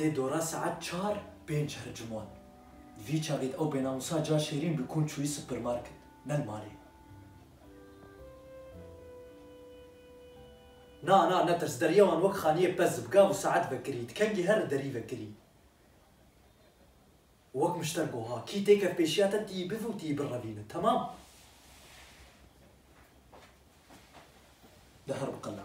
Tê dora saet çar pênc her ciwan. Vî çavê de ew bênamusa ca şêrîn bi kûn çûyî supermarket, ne li malê. Na, na, netirs, deriya wan wek xaniyê pez bi gav û saet vekirî, di kengî herr derî vekirî û wek mişter got, Ha, kî têkev pêşiya te, tî yî bive û tî yî birevîne. Temam! Di herr biqile.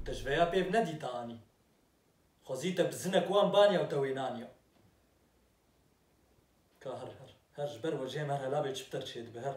Û te ji veya pêv ne dîta anî. Xwezî te bi zinek wan baniya û te wê naniya. Ka her her her ji ber wecê me her helavê çiptir çêdibe her.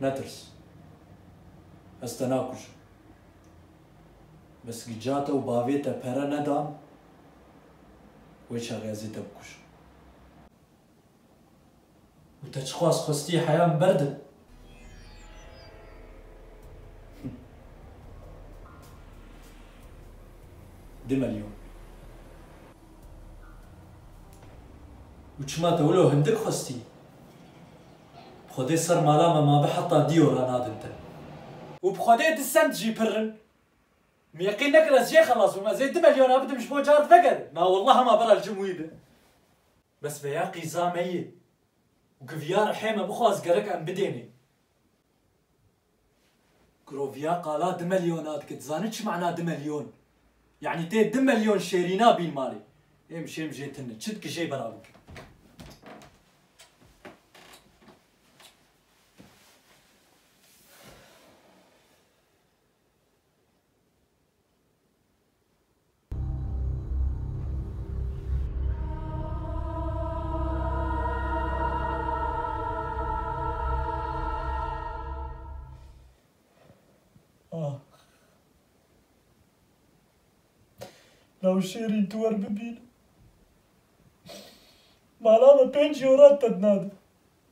Netirs. Ez te nakujim. Bes gica te û bavê te pere nedan, wê çaxê ez ê te bikujim. Û te çiqas xwestî heya min ber din? Du milyon. Û çima te wilo hindik xwestî? Bi xwedê ser mala me mabe heta dî ora nadim te. Û bi xwedê di send jî pir in. Min yeqîn nekir ez jê xelas bûm. Ez ê du milyona bidim ji bo carî vegerim. Na wallah hema bera li cim wî be. Bes veya qîza me yê. Guviya rihê me bixwaz gerek em bidênê. Giroviya qala du melyona dike. Dizanî çi mana du melyon? Yanî tê du melyon şêrîna bîn malê. Êm şêm jê tune. Çi dike jê bera bike. Şêrîn tu wer bibîn. Mala me pêncî oran te dina di.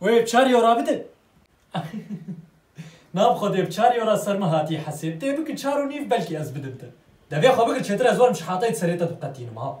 Wê çar yora bidin. Nav xwe dê bi çar yora ser min hatî hesêb. Tê bikin çar û nîv belkî ez bidim te. Devê xwe bigir çêtir ez werim ji hatay di serê te diqetînim ha.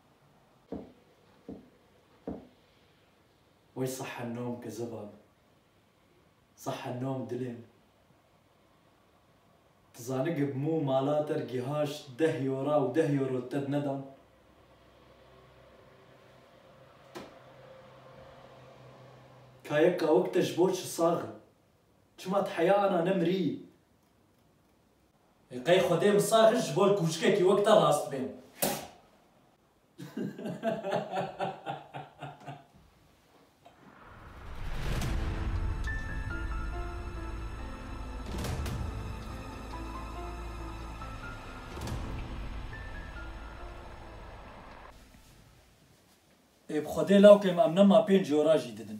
Way saha nom ke zivan, saha nom dilên. Ti zani ge bi mû mala te re gihaş deh yora û deh yoro te di nedan? Ka yek kawik te ji bo çi sax in? Çima ti heya ana ne mirî Ê qey xwedê misar ji bo kûçikekî wek te rast bên. Ê bi xwedê lawikê em em nema pênc jora jî didin.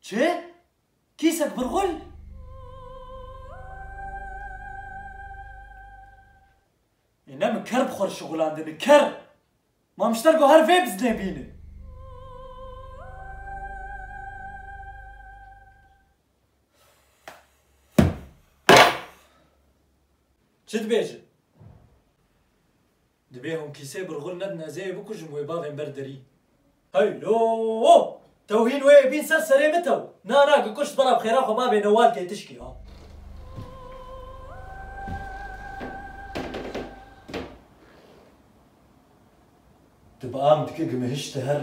Çi? Kîsek virgul? Ê ne min ker bi xwe re şixulandine, ker! Mamişter got her vê bizdê bîne. Çi dibêje? Dibê hûn kîsê birxûl nedin ez ê bikujim wê bavên ber derî. Hey lo o! Tew hîn wê bîn ser serê min tew. Na na gikuşt bela bi xêra xwe bavê Newal tê tişkî ha. Ti bi am dikî gimihişti herr.